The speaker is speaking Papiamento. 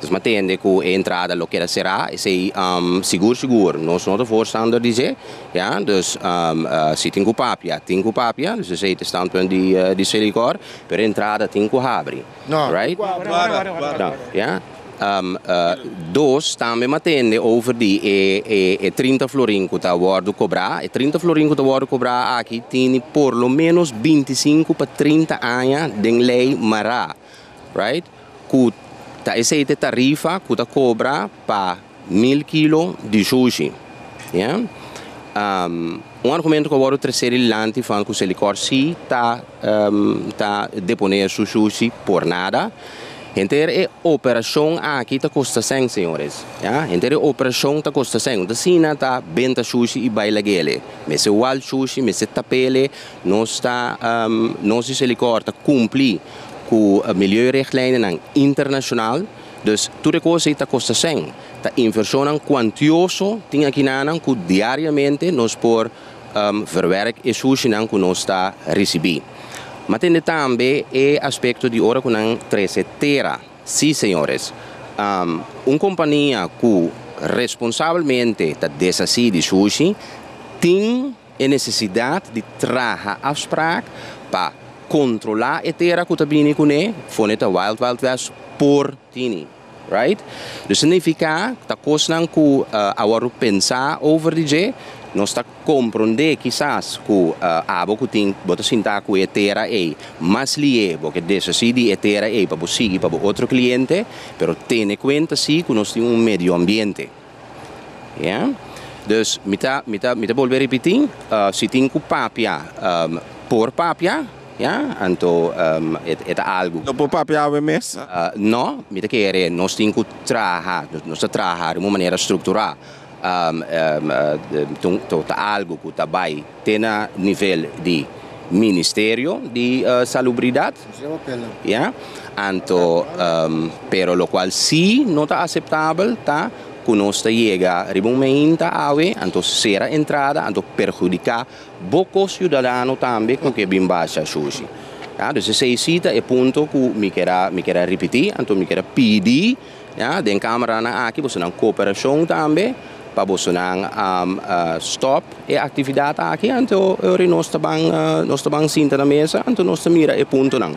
Nos m'a tende cu e entrada lo keda cerá, esey sigur sigur nos no ta voorstander di dje, ya, dus si tin cu papia, tin cu papia, dus esey ta e standpunt di Celicor, pero e entrada tin cu habri, right? Ya, dos tambe m'a tende over di e trinta florin cu ta wordo cobrá, e trinta florin cu ta wordo cobrá aki tini por lo menos binti sinku pa trinta aña den ley mará. Right, ku ta esei te tarifa ku ta kobra pa mil kilo di shushi. Ya. Un argumento ku a wòrdu tresé dilanti fan ku Selikor si ta ta deponé su shushi por nada. Henter e operashon aki ta kosta sèn, señores. Ya. Henter e operashon ta kosta sèn. No ta asina ta benta shushi i bai lag'e alí. Mester wal shushi, mester tap'e alí, Nos ta nos di Selikor ta kumpli ku milieurechtlijnennan internashonal, dus tur e kos ei ta kosta sèn. Ta invershonnan kuantioso tin akinanan ku diariamente nos por verwerk e sushinan ku nos ta risibí. M'a tende tambe e aspekto di ora ku nan trese tera. Sí, señores, un kompania ku responsabelmente ta deshasí di sushi tin. E nesesidat di traha afspraak pa kontrolá e tera ku ta bini kuné, fone ta Wild Wild West, por tini. Right? Dus signifiká ta kosnan ku awa ru pensá over di dje, nos ta komprondé kisas ku abo ku tin bo ta sintá ku e tera ei mas lié, bo ke desasí di e tera ei pa bo sigui pa bo otro kliente, pero tene kuenta sí ku nos tin un medioambiente. Ya. Dus mi ta mi ta mi ta bolbe ripití, si tin ku papia por papia, ya, anto e ta algu. No por papia awe mes? No, mi ta kere nos tin ku traha, nos ta traha di un manera strukturá, ta algu ku ta bai. te na nivel di Ministerio di Salubridad, ya, anto, pero locual si no ta aceptabel ta cu nos ta yega riba un meinta awe, anto cera entrada, anto perhudica bo co ciudadano tambe cu ke bin basha shushi, ya. Dus esei si ta e punto cu mi keda, mi keda ripiti, anto mi keda pidi. Ya, den cameranan aki boso nan cooperacion tambe pa boso nan stop e actividad aki, anto e ora nos ta ban sinta na mesa, anto nos ta mira e puntonan.